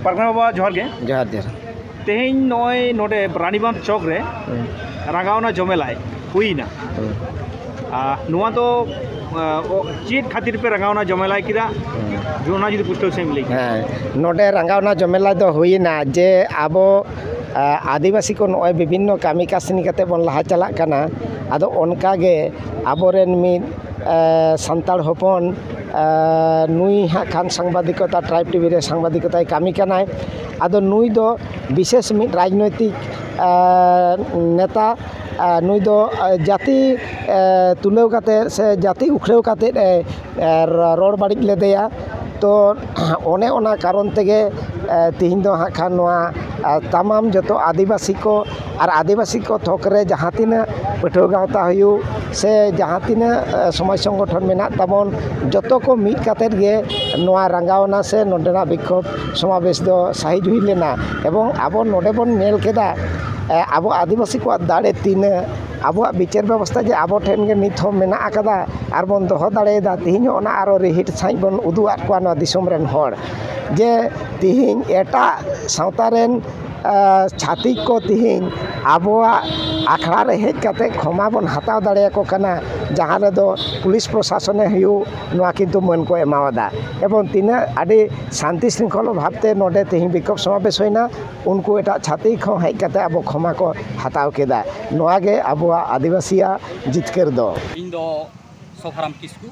ᱯᱟᱨᱜᱟᱱᱟ ᱵᱟᱵᱟ ᱡᱚᱦᱟᱨ ᱜᱮ ᱡᱚᱦᱟᱨ ᱡᱚᱦᱟᱨ ᱛᱮᱦᱮᱧ ᱱᱚᱜᱼᱚᱭ ᱱᱚᱰᱮ ᱨᱟᱱᱤᱵᱟᱸᱫᱷ ᱪᱚᱠ ᱨᱮ ᱨᱟᱸᱜᱟᱣᱱᱟ ᱡᱚᱢᱮᱞᱟᱭ ᱦᱩᱭᱱᱟ ᱱᱚᱣᱟ ᱫᱚ ᱪᱮᱫ ᱠᱷᱟᱹᱛᱤᱨ ᱯᱮ ᱨᱟᱸᱜᱟᱣᱱᱟ ᱡᱚᱢᱮᱞᱟᱭ ᱠᱮᱫᱟ ᱚᱱᱟ ᱡᱩᱫᱤ ᱯᱩᱥᱴᱟᱹᱣ ᱥᱮᱢ ᱞᱟᱹᱭ ᱦᱮᱸ ᱱᱚᱰᱮ ᱨᱟᱸᱜᱟᱣᱱᱟ ᱡᱚᱢᱮᱞᱟᱭ ᱫᱚ ᱦᱩᱭᱱᱟ ᱡᱮ ᱟᱵᱚ ᱟᱹᱫᱤᱵᱟᱹᱥᱤ ᱠᱚ ᱱᱚᱜᱼᱚᱭ ᱵᱤᱵᱷᱤᱱᱱᱚ ᱠᱟᱹᱢᱤ ᱠᱟᱹᱥᱱᱤ ᱠᱟᱛᱮ ᱵᱚᱱ ᱞᱟᱦᱟ ᱪᱟᱞᱟᱜ ᱠᱟᱱᱟ ᱟᱫᱚ ᱚᱱᱠᱟᱜᱮ ᱟᱵᱚᱨᱮᱱ ᱢᱤᱫ ᱥᱟᱱᱛᱟᱲ ᱦᱚᱯᱚᱱ ᱱᱩᱭ ᱦᱟᱸᱜ ᱠᱷᱟᱱ ᱥᱟᱢᱵᱟᱫᱤᱠᱚᱛᱟ ᱴᱨᱟᱭᱤᱵᱽ ᱴᱤᱵᱷᱤ ᱨᱮ ᱥᱟᱢᱵᱟᱫᱤᱠᱚᱛᱟᱭ ᱠᱟᱹᱢᱤ ᱠᱟᱱᱟᱭ ᱟᱫᱚ ᱱᱩᱭ ᱫᱚ ᱵᱤᱥᱮᱥ ᱢᱤᱫ ᱨᱟᱡᱽᱱᱳᱭᱛᱤᱠ ᱱᱮᱛᱟ ᱱᱩᱭ ᱫᱚ ᱡᱟᱹᱛᱤ ᱛᱩᱞᱟᱹᱣ ᱠᱟᱛᱮ ᱥᱮ ᱡᱟᱹᱛᱤ ᱩᱯᱨᱟᱹᱣ ᱠᱟᱛᱮ ᱮ ᱨᱚᱲ ᱵᱟᱹᱲᱤᱡ ᱞᱮᱫᱮᱭᱟ ᱛᱚ ᱚᱱᱮ ᱚᱱᱟ ᱠᱟᱨᱚᱱ ᱛᱮᱜᱮ ᱛᱮᱦᱮᱧ ᱫᱚ ᱦᱟᱸᱜ ᱠᱷᱟᱱ ᱱᱚᱣᱟ ᱛᱟᱢᱟᱢ ᱡᱚᱛᱚ ᱟᱹᱫᱤᱵᱟᱹᱥᱤ ᱠᱚ ᱟᱨ ᱟᱹᱫᱤᱵᱟᱹᱥᱤ ᱠᱚ ᱛᱷᱚᱠ ᱨᱮ ᱡᱟᱦᱟᱸ ᱛᱤᱱᱟᱹᱜ ᱯᱟᱹᱴᱷᱩᱣᱟᱹ ᱜᱟᱶᱛᱟ ᱦᱩᱭᱩᱜ ᱥᱮ ᱡᱟᱦᱟᱸ ᱛᱤᱱᱟᱹᱜ ᱥᱚᱢᱟᱡᱽ ᱥᱚᱝᱜᱚᱴᱷᱚᱱ ᱢᱮᱱᱟᱜ ᱛᱟᱵᱚᱱ ᱡᱚᱛᱚ ᱠᱚ ᱢᱤᱫ ᱠᱟᱛᱮ ᱜᱮ ᱱᱚᱣᱟ ᱨᱟᱸᱜᱟᱣᱱᱟ ᱥᱮ ᱱᱚᱰᱮᱱᱟᱜ ᱵᱤᱠᱠᱷᱳᱵᱽ ᱥᱚᱢᱟᱵᱮᱥ ᱫᱚ ᱥᱟᱹᱦᱤᱡ ᱦᱩᱭ ᱞᱮᱱᱟ ᱮᱵᱚᱝ ᱟᱵᱚ ᱱᱚᱰᱮ ᱵᱚᱱ ᱧᱮᱞ ᱠᱮᱫᱟ ᱟᱵᱚ ᱟᱹᱫᱤᱵᱟᱹᱥᱤ ᱠᱚᱣᱟᱜ ᱫᱟᱲᱮ ᱛᱤᱱᱟᱹᱜ ᱟᱵᱚᱣᱟᱜ ᱵᱤᱪᱟᱹᱨ ᱵᱮᱵᱚᱥᱛᱷᱟ ᱡᱮ ᱟᱵᱚ ᱴᱷᱮᱱ ᱜᱮ ᱱᱤᱛ ᱦᱚᱸ ᱢᱮᱱᱟᱜ ᱠᱟᱫᱟ ᱟᱨ ᱵᱚᱱ ᱫᱚᱦᱚ ᱫᱟᱲᱮᱭᱟᱫᱟ ᱛᱮᱦᱮᱧ ᱦᱚᱸ ᱚᱱᱟ ᱟᱨᱚ ᱨᱤᱦᱤᱴ ᱥᱟᱹᱦᱤᱡ ᱵᱚᱱ ᱩᱫᱩᱜ ᱟᱜ ᱠᱚᱣᱟ ᱱᱚᱣᱟ ᱫᱤᱥᱚᱢ ᱨᱮᱱ ᱦᱚᱲ ᱡᱮ ᱛᱮᱦᱮᱧ ᱮᱴᱟᱜ ᱥᱟᱶᱛᱟ ᱨᱮᱱ ᱪᱷᱟᱹᱛᱤᱠ ᱠᱚ ᱛᱮᱦᱤᱧ ᱟᱵᱚᱣᱟᱜ ᱟᱠᱷᱲᱟ ᱨᱮ ᱦᱮᱡ ᱠᱟᱛᱮ ᱠᱷᱚᱢᱟ ᱵᱚᱱ ᱦᱟᱛᱟᱣ ᱫᱟᱲᱮ ᱟᱠᱚ ᱠᱟᱱᱟ ᱡᱟᱦᱟᱸ ᱨᱮᱫᱚ ᱯᱩᱞᱤᱥ ᱯᱨᱚᱥᱟᱥᱚᱱᱮ ᱦᱩᱭᱩᱜ ᱱᱚᱣᱟ ᱠᱤᱱᱛᱩ ᱢᱟᱹᱱ ᱠᱚ ᱮᱢᱟᱣ ᱟᱫᱟ ᱮᱵᱚᱝ ᱛᱤᱱᱟᱹᱜ ᱟᱹᱰᱤ ᱥᱟᱱᱛᱤ ᱥᱤᱝᱠᱷᱚᱞᱟ ᱵᱷᱟᱵᱽ ᱛᱮ ᱱᱚᱰᱮ ᱛᱮᱦᱤᱧ ᱵᱤᱠᱠᱷᱳᱵᱽ ᱥᱚᱢᱟᱵᱮᱥ ᱦᱩᱭᱱᱟ ᱩᱱᱠᱩ ᱮᱴᱟᱜ ᱪᱷᱟᱹᱛᱤᱠ ᱦᱚᱸ ᱦᱮᱡ ᱠᱟᱛᱮ ᱟᱵᱚ ᱠᱷᱚᱢᱟ ᱠᱚ ᱦᱟᱛᱟᱣ ᱠᱮᱫᱟ ᱱᱚᱣᱟ ᱜᱮ ᱟᱵᱚᱣᱟᱜ ᱟᱹᱫᱤᱵᱟᱹᱥᱤᱭᱟᱜ ᱡᱤᱛᱠᱟᱹᱨ ᱫᱚ ᱤᱧ ᱫᱚ ᱥᱚᱵᱷᱟᱨᱟᱢ ᱠᱤᱥᱠᱩ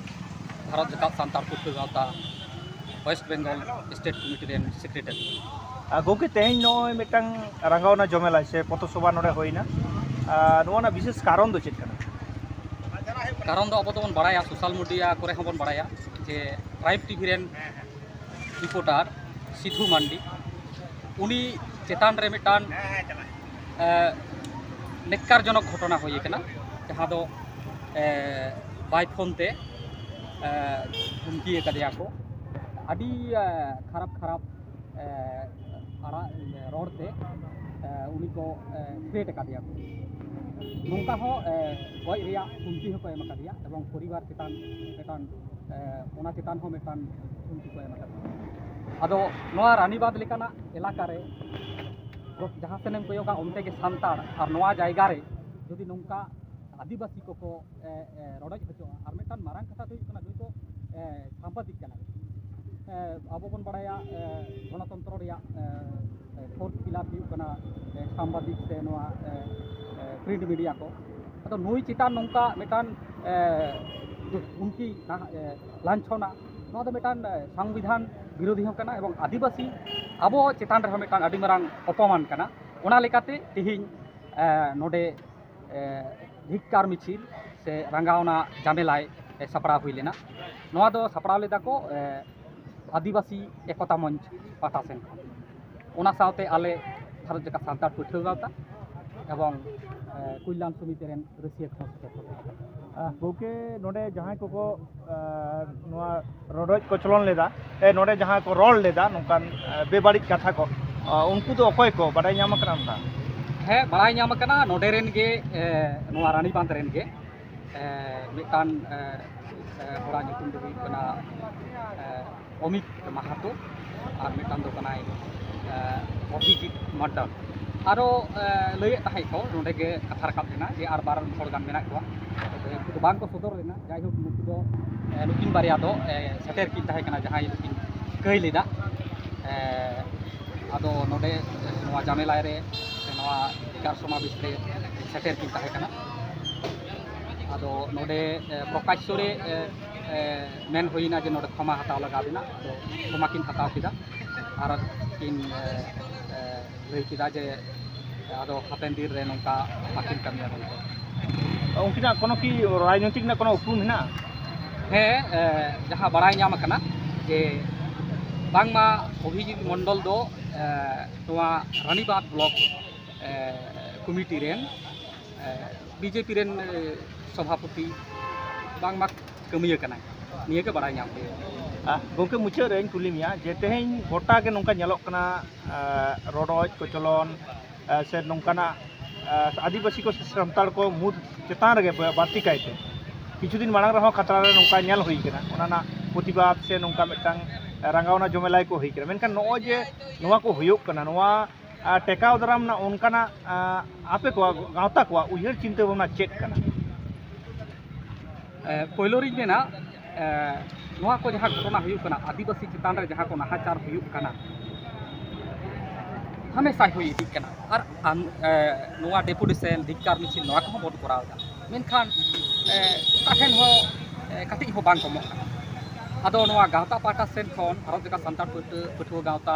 ᱵᱷᱟᱨᱚᱛ ᱡᱟᱠᱟᱛ Santal Pathua Gaonta West Bengal state committee ᱨᱮᱱ ᱥᱮᱠᱨᱮᱴᱟᱨᱤ ᱜᱚᱢᱠᱮ ᱛᱮᱦᱮᱧ ᱱᱚᱜᱼᱚᱭ ᱢᱤᱫᱴᱟᱝ ᱨᱟᱸᱜᱟᱣᱱᱟ ᱡᱚᱢᱮᱞᱟ ᱥᱮ ᱯᱚᱛᱚ ᱥᱚᱵᱷᱟ ᱱᱚᱰᱮ ᱦᱩᱭᱱᱟ ᱱᱚᱣᱟ ᱨᱮᱱᱟᱜ ᱵᱤᱥᱮᱥ ᱠᱟᱨᱚᱱ ᱫᱚ ᱪᱮᱫ ᱠᱟᱱᱟ ᱠᱟᱨᱚᱱ ᱫᱚ ᱟᱵᱚ ᱫᱚᱵᱚᱱ ᱵᱟᱲᱟᱭᱟ ᱥᱳᱥᱟᱞ ᱢᱤᱰᱤᱭᱟ ᱠᱚᱨᱮ ᱦᱚᱸᱵᱚᱱ ᱵᱟᱲᱟᱭᱟ ᱡᱮ ᱴᱨᱟᱭᱤᱵᱽ ᱴᱤᱵᱷᱤ ᱨᱮᱱ ᱨᱤᱯᱳᱴᱟᱨ ᱥᱤᱫᱷᱩ ᱢᱟᱱᱰᱤ ᱩᱱᱤ ᱪᱮᱛᱟᱱ ᱨᱮ ᱢᱤᱫᱴᱟᱝ ᱱᱮᱠᱠᱟᱨ ᱡᱚᱱᱚᱠ ᱜᱷᱚᱴᱚᱱᱟ ᱦᱩᱭ ᱟᱠᱟᱱᱟ ᱡᱟᱦᱟᱸ ᱫᱚ ᱵᱟᱭ ᱯᱷᱳᱱ ᱛᱮ ᱫᱷᱩᱢᱠᱤ ᱟᱠᱟᱫᱮᱭᱟ ᱠᱚ ᱟᱹᱰᱤ ᱠᱷᱟᱨᱟᱯ ᱠᱷᱟᱨᱟᱯ ᱟᱲᱟᱜ ᱨᱚᱲ ᱛᱮ ᱩᱱᱤ ᱠᱚ ᱯᱷᱮᱴ ᱟᱠᱟᱫᱮᱭᱟ ᱠᱚ ᱱᱚᱝᱠᱟ ᱦᱚᱸ ᱜᱚᱡ ᱨᱮᱭᱟᱜ ᱦᱩᱢᱠᱤ ᱦᱚᱸᱠᱚ ᱮᱢ ᱟᱠᱟᱫᱮᱭᱟ ᱮᱵᱚᱝ ᱯᱚᱨᱤᱵᱟᱨ ᱪᱮᱛᱟᱱ ᱢᱤᱫᱴᱟᱝ ᱚᱱᱟ ᱪᱮᱛᱟᱱ ᱦᱚᱸ ᱢᱤᱫᱴᱟᱝ ᱦᱩᱢᱠᱤ ᱠᱚ ᱮᱢ ᱟᱠᱟᱫᱮᱭᱟ ᱟᱫᱚ ᱱᱚᱣᱟ ᱨᱟᱱᱤᱵᱟᱸᱫᱽ ᱞᱮᱠᱟᱱᱟᱜ ᱮᱞᱟᱠᱟ ᱨᱮ ᱡᱟᱦᱟᱸ ᱥᱮᱱ ᱮᱢ ᱠᱚᱭᱚᱜᱟ ᱚᱱᱛᱮ ᱜᱮ ᱥᱟᱱᱛᱟᱲ ᱟᱨ ᱱᱚᱣᱟ ᱡᱟᱭᱜᱟ ᱨᱮ ᱡᱩᱫᱤ ᱱᱚᱝᱠᱟ ᱟᱹᱫᱤᱵᱟᱹᱥᱤ ᱠᱚᱠᱚ ᱨᱚᱰᱚᱡ ᱦᱚᱪᱚᱜᱼᱟ ᱟᱨ ᱢᱤᱫᱴᱟᱝ ᱢᱟᱨᱟᱝ ᱠᱟᱛᱷᱟ ᱫᱚ ᱦᱩᱭᱩᱜ ᱠᱟᱱᱟ ᱱᱩᱭ ᱫᱚ ᱥᱟᱢᱵᱟᱫᱤᱠ ᱠᱟᱱᱟᱭ ᱟᱵᱚ ᱵᱚᱱ ᱵᱟᱲᱟᱭᱟ ᱜᱚᱱᱚᱛᱚᱱᱛᱨᱚ ᱨᱮᱭᱟᱜ ᱯᱷᱳᱨᱛᱷ ᱯᱤᱞᱟᱨ ᱦᱩᱭᱩᱜ ᱠᱟᱱᱟ ᱥᱟᱢᱵᱟᱫᱤᱠ ᱥᱮ ᱱᱚᱣᱟ ᱯᱨᱤᱱᱴ ᱢᱤᱰᱤᱭᱟ ᱠᱚ ᱟᱫᱚ ᱱᱩᱭ ᱪᱮᱛᱟᱱ ᱱᱚᱝᱠᱟ ᱢᱤᱫᱴᱟᱝ ᱠᱷᱩᱱᱴᱤ ᱞᱟᱧᱪᱷᱚᱱᱟ ᱱᱚᱣᱟ ᱫᱚ ᱢᱤᱫᱴᱟᱝ ᱥᱚᱝᱵᱤᱫᱷᱟᱱ ᱵᱤᱨᱳᱫᱷᱤ ᱦᱚᱸ ᱠᱟᱱᱟ ᱮᱵᱚᱝ ᱟᱹᱫᱤᱵᱟᱹᱥᱤ ᱟᱵᱚ ᱪᱮᱛᱟᱱ ᱨᱮᱦᱚᱸ ᱢᱤᱫᱴᱟᱝ ᱟᱹᱰᱤ ᱢᱟᱨᱟᱝ ᱚᱯᱚᱢᱟᱱ ᱠᱟᱱᱟ ᱚᱱᱟ ᱞᱮᱠᱟᱛᱮ ᱛᱮᱦᱮᱧ ᱱᱚᱰᱮ ᱫᱷᱤᱠᱠᱟᱨ ᱢᱤᱪᱷᱤᱞ ᱥᱮ ᱨᱟᱸᱜᱟᱣᱱᱟ ᱡᱟᱢᱮᱞᱟᱭ ᱥᱟᱯᱲᱟᱣ ᱦᱩᱭ ᱞᱮᱱᱟ ᱱᱚᱣᱟ ᱫᱚ ᱥᱟᱯᱲᱟᱣ ᱞᱮᱫᱟ ᱠᱚ ᱟᱹᱫᱤᱵᱟᱹᱥᱤ ᱮᱠᱚᱛᱟ ᱢᱚᱧᱪ ᱯᱟᱦᱴᱟ ᱥᱮᱱ ᱠᱷᱚᱱ ᱚᱱᱟ ᱥᱟᱶᱛᱮ ᱟᱞᱮ ᱵᱷᱟᱨᱚᱛ ᱡᱟᱠᱟᱛ ᱥᱟᱱᱛᱟᱲ ᱯᱟᱹᱴᱷᱩᱣᱟᱹ ᱜᱟᱶᱛᱟ ᱮᱵᱚᱝ ᱠᱚᱞᱭᱟᱱ ᱥᱚᱢᱤᱛᱤ ᱨᱮᱱ ᱨᱟᱹᱥᱤᱭᱟᱹ ᱠᱷᱚᱱ ᱥᱮᱴᱮᱨ ᱠᱟᱛᱮ ᱜᱚᱢᱠᱮ ᱱᱚᱰᱮ ᱡᱟᱦᱟᱸᱭ ᱠᱚᱠᱚ ᱱᱚᱣᱟ ᱨᱚᱰᱚᱡ ᱠᱚᱪᱞᱚᱱ ᱞᱮᱫᱟ ᱱᱚᱰᱮ ᱡᱟᱦᱟᱸ ᱠᱚ ᱨᱚᱲ ᱞᱮᱫᱟ ᱱᱚᱝᱠᱟᱱ ᱵᱮᱵᱟᱹᱲᱤᱡ ᱠᱟᱛᱷᱟ ᱠᱚ ᱩᱱᱠᱩ ᱫᱚ ᱚᱠᱚᱭ ᱠᱚ ᱵᱟᱰᱟᱭ ᱧᱟᱢ ᱟᱠᱟᱱᱟ ᱚᱱᱠᱟ ᱦᱮᱸ ᱵᱟᱲᱟᱭ ᱧᱟᱢ ᱟᱠᱟᱱᱟ ᱱᱚᱰᱮ ᱨᱮᱱ ᱜᱮ ᱱᱚᱣᱟ ᱨᱟᱱᱤ ᱵᱟᱸᱫᱷ ᱨᱮᱱ ᱜᱮ ᱢᱤᱫᱴᱟᱱ ᱦᱚᱲᱟᱜ ᱧᱩᱛᱩᱢ ᱫᱚ ᱦᱩᱭᱩᱜ ᱠᱟᱱᱟ ᱚᱢᱤᱛ ᱢᱟᱦᱟᱛᱚ ᱟᱨ ᱢᱤᱫᱴᱟᱝ ᱫᱚ ᱠᱟᱱᱟᱭ ᱚᱵᱷᱤᱡᱤᱛ ᱢᱟᱰᱰᱟᱞ ᱟᱨᱚ ᱞᱟᱹᱭᱮᱫ ᱛᱟᱦᱮᱸᱫ ᱠᱚ ᱱᱚᱰᱮ ᱜᱮ ᱠᱟᱛᱷᱟ ᱨᱟᱠᱟᱵ ᱞᱮᱱᱟ ᱡᱮ ᱟᱨ ᱵᱟᱨ ᱦᱚᱲ ᱜᱟᱱ ᱢᱮᱱᱟᱜ ᱠᱚᱣᱟ ᱛᱚᱵᱮ ᱩᱱᱠᱩ ᱫᱚ ᱵᱟᱝᱠᱚ ᱥᱚᱫᱚᱨ ᱞᱮᱱᱟ ᱡᱟᱭᱦᱳᱠ ᱱᱩᱠᱩ ᱫᱚ ᱱᱩᱠᱤᱱ ᱵᱟᱨᱭᱟ ᱫᱚ ᱥᱮᱴᱮᱨ ᱠᱤᱱ ᱛᱟᱦᱮᱸ ᱠᱟᱱᱟ ᱡᱟᱦᱟᱸᱭ ᱫᱚᱠᱤᱱ ᱠᱟᱹᱭ ᱞᱮᱫᱟ ᱟᱫᱚ ᱱᱚᱰᱮ ᱱᱚᱣᱟ ᱡᱟᱢᱮᱞᱟᱭ ᱨᱮ ᱱᱚᱣᱟ ᱵᱤᱪᱟᱨ ᱥᱚᱢᱟᱵᱮᱥ ᱨᱮ ᱥᱮᱴᱮᱨ ᱠᱤᱱ ᱛᱟᱦᱮᱸ ᱠᱟᱱᱟ ᱟᱫᱚ ᱱᱚᱰᱮ ᱯᱨᱚᱠᱟᱥᱥᱚ ᱨᱮ ᱢᱮᱱ ᱦᱩᱭᱱᱟ ᱡᱮ ᱱᱚᱰᱮ ᱠᱷᱚᱢᱟ ᱦᱟᱛᱟᱣ ᱞᱟᱜᱟᱣ ᱵᱮᱱᱟ ᱟᱫᱚ ᱠᱷᱚᱢᱟ ᱠᱤᱱ ᱦᱟᱛᱟᱣ ᱠᱮᱫᱟ ᱟᱨ ᱠᱤᱱ ᱞᱟᱹᱭ ᱠᱮᱫᱟ ᱡᱮ ᱟᱫᱚ ᱦᱟᱯᱮᱱ ᱫᱤᱱ ᱨᱮ ᱱᱚᱝᱠᱟ ᱵᱟᱹᱠᱤᱱ ᱠᱟᱹᱢᱤᱭᱟ ᱢᱮᱱᱛᱮ ᱩᱱᱠᱤᱱᱟᱜ ᱠᱳᱱᱳ ᱠᱤ ᱨᱟᱡᱽᱱᱳᱭᱛᱤᱠ ᱨᱮᱱᱟᱜ ᱠᱳᱱᱳ ᱩᱯᱨᱩᱢ ᱦᱮᱱᱟᱜᱼᱟ ᱦᱮᱸ ᱡᱟᱦᱟᱸ ᱵᱟᱲᱟᱭ ᱧᱟᱢ ᱟᱠᱟᱱᱟ ᱡᱮ ᱵᱟᱝᱢᱟ ᱚᱵᱷᱤᱡᱤᱛ ᱢᱚᱱᱰᱚᱞ ᱫᱚ ᱱᱚᱣᱟ ᱨᱟᱱᱤᱵᱟᱸᱫ ᱵᱞᱚᱠ ᱠᱚᱢᱤᱴᱤ ᱨᱮᱱ ᱵᱤᱡᱮᱯᱤ ᱨᱮᱱ ᱥᱚᱵᱷᱟᱯᱚᱛᱤ ᱵᱟᱝᱢᱟ ᱠᱟᱹᱢᱤᱭᱟᱹ ᱠᱟᱱᱟᱭ ᱱᱤᱭᱟᱹ ᱜᱮ ᱵᱟᱲᱟᱭ ᱧᱟᱢ ᱦᱩᱭᱩᱜᱼᱟ ᱜᱚᱢᱠᱮ ᱢᱩᱪᱟᱹᱫ ᱨᱮᱧ ᱠᱩᱞᱤ ᱢᱮᱭᱟ ᱡᱮ ᱛᱮᱦᱮᱧ ᱜᱚᱴᱟ ᱜᱮ ᱱᱚᱝᱠᱟ ᱧᱮᱞᱚᱜ ᱠᱟᱱᱟ ᱨᱚᱰᱚᱡ ᱠᱚᱪᱚᱞᱚᱱ ᱥᱮ ᱱᱚᱝᱠᱟᱱᱟᱜ ᱟᱹᱫᱤᱵᱟᱹᱥᱤ ᱠᱚ ᱥᱮ ᱥᱟᱱᱛᱟᱲ ᱠᱚ ᱢᱩᱫᱽ ᱪᱮᱛᱟᱱ ᱨᱮᱜᱮ ᱵᱟᱹᱲᱛᱤ ᱠᱟᱭᱛᱮ ᱠᱤᱪᱷᱩ ᱫᱤᱱ ᱢᱟᱲᱟᱝ ᱨᱮᱦᱚᱸ ᱠᱷᱟᱛᱲᱟ ᱨᱮ ᱱᱚᱝᱠᱟ ᱧᱮᱞ ᱦᱩᱭ ᱠᱟᱱᱟ ᱚᱱᱟ ᱨᱮᱱᱟᱜ ᱯᱨᱚᱛᱤᱵᱟᱫ ᱥᱮ ᱱᱚᱝᱠᱟ ᱢᱤᱫᱴᱟᱝ ᱨᱟᱸᱜᱟᱣᱱᱟ ᱡᱚᱢᱮᱞᱟᱭ ᱠᱚ ᱦᱩᱭ ᱠᱟᱱᱟ ᱢᱮᱱᱠᱷᱟᱱ ᱱᱚᱜᱼᱚᱭ ᱡᱮ ᱱᱚᱣᱟ ᱠᱚ ᱦᱩᱭᱩᱜ ᱠᱟᱱᱟ ᱱᱚᱣᱟ ᱴᱮᱠᱟᱣ ᱫᱟᱨᱟᱢ ᱨᱮᱱᱟᱜ ᱚᱱᱠᱟᱱᱟᱜ ᱟᱯᱮ ᱠᱚᱣᱟᱜ ᱜᱟᱶᱛᱟ ᱠᱚᱣᱟᱜ ᱩᱭᱦᱟᱹᱨ ᱪᱤᱱᱛᱟᱹ ᱵᱷᱟᱵᱽᱱᱟ ᱪᱮᱫ ᱠᱟᱱᱟ ᱯᱳᱭᱞᱳ ᱨᱤᱧ ᱢᱮᱱᱟ ᱱᱚᱣᱟ ᱠᱚ ᱡᱟᱦᱟᱸ ᱜᱷᱚᱴᱚᱱᱟ ᱦᱩᱭᱩᱜ ᱠᱟᱱᱟ ᱟᱹᱫᱤᱵᱟᱹᱥᱤ ᱪᱮᱛᱟᱱ ᱨᱮ ᱡᱟᱦᱟᱸ ᱠᱚ ᱱᱟᱦᱟᱪᱟᱨ ᱦᱩᱭᱩᱜ ᱠᱟᱱᱟ ᱦᱟᱢᱮᱥᱟ ᱦᱩᱭ ᱤᱫᱤᱜ ᱠᱟᱱᱟ ᱟᱨ ᱱᱚᱣᱟ ᱰᱮᱯᱩᱴᱮᱥᱮᱱ ᱫᱷᱤᱠᱠᱟᱨ ᱢᱤᱪᱷᱤᱞ ᱱᱚᱣᱟ ᱠᱚᱦᱚᱸ ᱵᱚᱱ ᱠᱚᱨᱟᱣ ᱮᱫᱟ ᱢᱮᱱᱠᱷᱟᱱ ᱚᱠᱟ ᱴᱷᱮᱱ ᱦᱚᱸ ᱠᱟᱹᱴᱤᱡ ᱦᱚᱸ ᱵᱟᱝ ᱠᱚᱢᱚᱜ ᱠᱟᱱᱟ ᱟᱫᱚ ᱱᱚᱣᱟ ᱜᱟᱶᱛᱟ ᱯᱟᱦᱴᱟ ᱥᱮᱫ ᱠᱷᱚᱱ ᱵᱷᱟᱨᱚᱛ ᱡᱟᱠᱟᱛ ᱥᱟᱱᱛᱟᱲ ᱯᱟᱹᱴᱷᱩᱣᱟᱹ ᱜᱟᱶᱛᱟ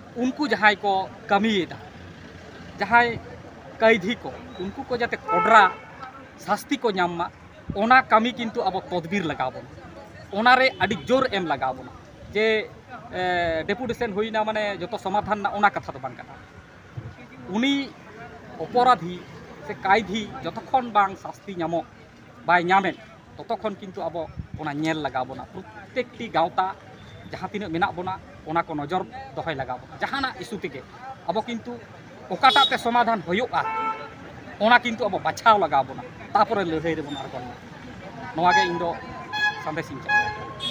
ᱩᱱᱠᱩ ᱡᱟᱦᱟᱸᱭ ᱠᱚ ᱠᱟᱹᱢᱤᱭᱮᱫᱟ ᱡᱟᱦᱟᱸᱭ ᱠᱟᱹᱭᱫᱷᱤ ᱠᱚ ᱩᱱᱠᱩ ᱠᱚ ᱡᱟᱛᱮ ᱠᱚᱰᱨᱟ ᱥᱟᱥᱛᱤ ᱠᱚ ᱧᱟᱢ ᱢᱟ ᱚᱱᱟ ᱠᱟᱹᱢᱤ ᱠᱤᱱᱛᱩ ᱟᱵᱚ ᱛᱚᱫᱵᱤᱨ ᱞᱟᱜᱟᱣ ᱵᱚᱱᱟ ᱚᱱᱟᱨᱮ ᱟᱹᱰᱤ ᱡᱳᱨ ᱮᱢ ᱞᱟᱜᱟᱣ ᱵᱚᱱᱟ ᱡᱮ ᱰᱮᱯᱩᱴᱮᱥᱚᱱ ᱦᱩᱭᱱᱟ ᱢᱟᱱᱮ ᱡᱚᱛᱚ ᱥᱚᱢᱟᱫᱷᱟᱱ ᱨᱮᱱᱟᱜ ᱚᱱᱟ ᱠᱟᱛᱷᱟ ᱫᱚ ᱵᱟᱝ ᱠᱟᱱᱟ ᱩᱱᱤ ᱚᱯᱚᱨᱟᱫᱷᱤ ᱥᱮ ᱠᱟᱭᱫᱷᱤ ᱡᱚᱛᱚᱠᱷᱚᱱ ᱵᱟᱝ ᱥᱟᱥᱛᱤ ᱧᱟᱢᱚᱜ ᱵᱟᱭ ᱧᱟᱢᱮᱫ ᱛᱚᱛᱚ ᱠᱷᱚᱱ ᱠᱤᱱᱛᱩ ᱟᱵᱚ ᱚᱱᱟ ᱧᱮᱞ ᱞᱟᱜᱟᱣ ᱵᱚᱱᱟ ᱯᱨᱚᱛᱮᱠᱴᱤ ᱜᱟᱶᱛᱟ ᱡᱟᱦᱟᱸ ᱛᱤᱱᱟᱹᱜ ᱢᱮᱱᱟᱜ ᱵᱚᱱᱟ ᱚᱱᱟ ᱠᱚ ᱱᱚᱡᱚᱨ ᱫᱚᱦᱚᱭ ᱞᱟᱜᱟᱣ ᱵᱚᱱᱟ ᱡᱟᱦᱟᱱᱟᱜ ᱤᱥᱩ ᱛᱮᱜᱮ ᱟᱵᱚ ᱠᱤᱱᱛᱩ ᱚᱠᱟᱴᱟᱜ ᱛᱮ ᱥᱚᱢᱟᱫᱷᱟᱱ ᱦᱩᱭᱩᱜᱼᱟ ᱚᱱᱟ ᱠᱤᱱᱛᱩ ᱟᱵᱚ ᱵᱟᱪᱷᱟᱣ ᱞᱟᱜᱟᱣ ᱵᱚᱱᱟ ᱛᱟᱯᱚᱨᱮ ᱞᱟᱹᱲᱦᱟᱹᱭ ᱨᱮᱵᱚᱱ ᱟᱬᱜᱚᱱᱟ ᱱᱚᱣᱟ ᱜᱮ ᱤᱧ ᱫᱚ ᱥᱟᱸᱫᱮᱥ ᱤᱧ ᱪᱟᱞᱟ